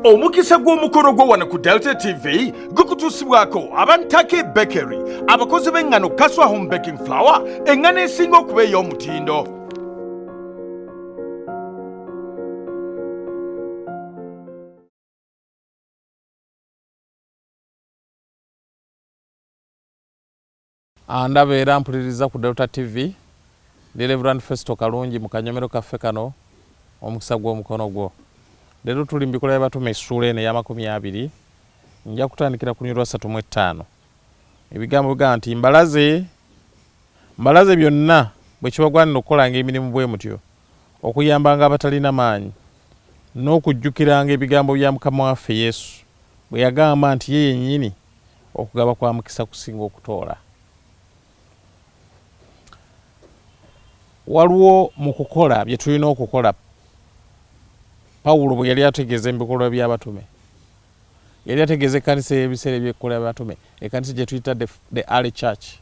omukisa gw'omukolo gwo wano ku delta tv gukutuusibwako abantake bakery abakozi b'eŋŋano kaswa home baking flower eŋŋano esinga okuba ey'omutindo Ah, ndaba era mpuliriza ku Delta TV ndi Reverend Festo Kalungi mu kanyomero kaffe kano omukisa gw'omukono gwo. Leero tuli mu bikola by'abatume essuula eno ey'amakumi abiri nja kutandikira ku lunyirwa ssatu mu ettaano. Ebigambo bigamba nti mbalaze mbalaze byonna bwe kibagwanira okukolanga emirimu bwe mutyo Okuyambanga abatalina maanyi, n'okujjukiranga ebigambo bya Mukama waffe Yesu bwe yagamba nti ye yennyini okugaba kwa mukisa kusinga okutoola. Waliwo mu kukola bye tulina okukola. Pawulo bwe yali ategeeza ebikolwa by'abatume, yali ategeeza ekkanisa ey'ebiseera eby'ekkola by'abatume, ekkanisa gye tuyita the early church.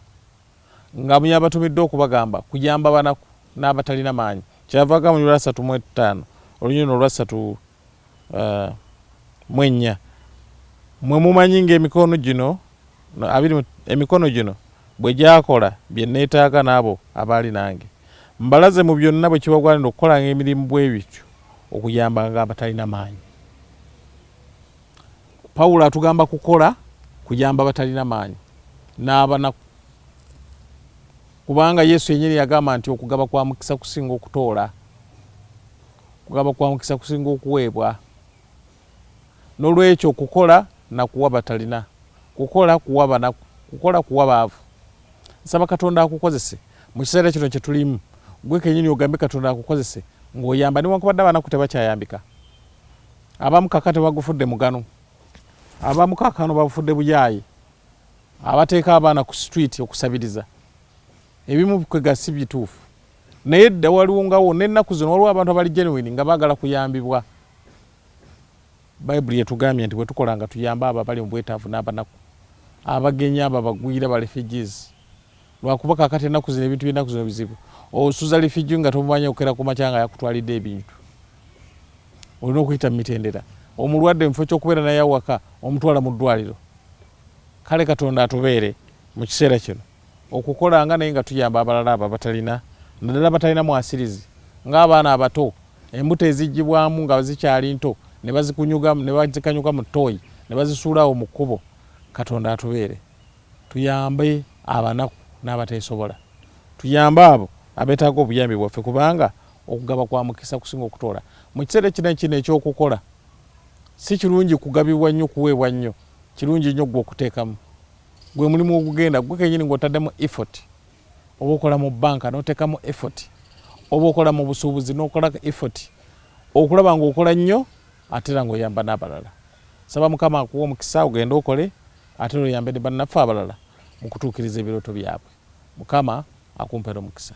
nga muyabatumiddwa okubagamba kuyamba banaku n'abatalina maanyi kyeyava agabanyula asatu mu ettaano olunyiriri luno olwa ssatu eh, mu ennya mwe mumanyi ng'emikono gino abiri emikono gino bwe gyakola bye nneetaaga n'abo abaali nange mbalaze mu byonna bwe kibagwanira okukolanga emirimu bwe bityo okuyambanga abatalina maanyi Pawulo atugamba kukola kuyamba batalina maanyi n'abanaku, kubanga Yesu yennyini yagamba nti okugaba kwa mukisa kusinga okutoola, okugaba kwa mukisa kusinga okuweebwa. N'olwekyo kukola na kuwa batalina, kukola kuwa banaku, kukola kuwa baavu. Nsaba Katonda akukozese mu kiseera kino kye tulimu, gwe kennyini ogambe Katonda akukozese ng'oyamba newankubadde abanaku tebakyayambika. Abamu kakati bagufudde mugano, abamu kakano babufudde buyaaye, abateeka abaana ku street okusabiriza ebimu kwega si bituufu naye dda waliwo ngawo n'ennaku zino waliwo abantu abali genuine nga baagala kuyambibwa bayibuli yetugambye nti bwetukola nga tuyamba abo abali mu bwetaavu n'abanaku abagenyi abo abagwira ba refugees Lwakuba kakati enaku zino ebintu byenaku zino bizibu osuza refugee nga tomumanyi okera kumakya nga yakutwalidde ebintu olina okuyita mumitendera omulwadde mufo kyokubeera naye awaka omutwala mu ddwaliro kale katonda atubeere mu kiseera kino okukolanga naye nga tuyamba abalala abo abatalina naddala batalina mwasirizi ng'abaana abato embuto ezigibwamu nga zikyali nto ne bazikunyugamu ne bazikanyuka mu ttooyi ne bazisuulaawo mu kkubo katonda atubeere Tuyambe abanaku n'abateesobola. Tuyambe abo abeetaaga obuyambi bwaffe kubanga okugaba kwa mukisa kusinga okutoola. Mu kiseera kino kino eky'okukola, si kirungi kugabibwa nnyo, kuweebwa nnyo. Kirungi nnyo ggwe okuteekamu. Gwe mulimu ogugenda ggwe kennyini ng'otaddemu effort. Oba okola mu bbanka n'oteekamu effort, oba okola mu busuubuzi n'okola effort okulaba ng'okola nnyo ate era ng'oyamba n'abalala. Nsaba Mukama akuwe omukisa ogende okole. Ate era oyambe ne bannaffe abalala mu kutuukiriza ebirooto byabwe. Mukama akumpere omukisa.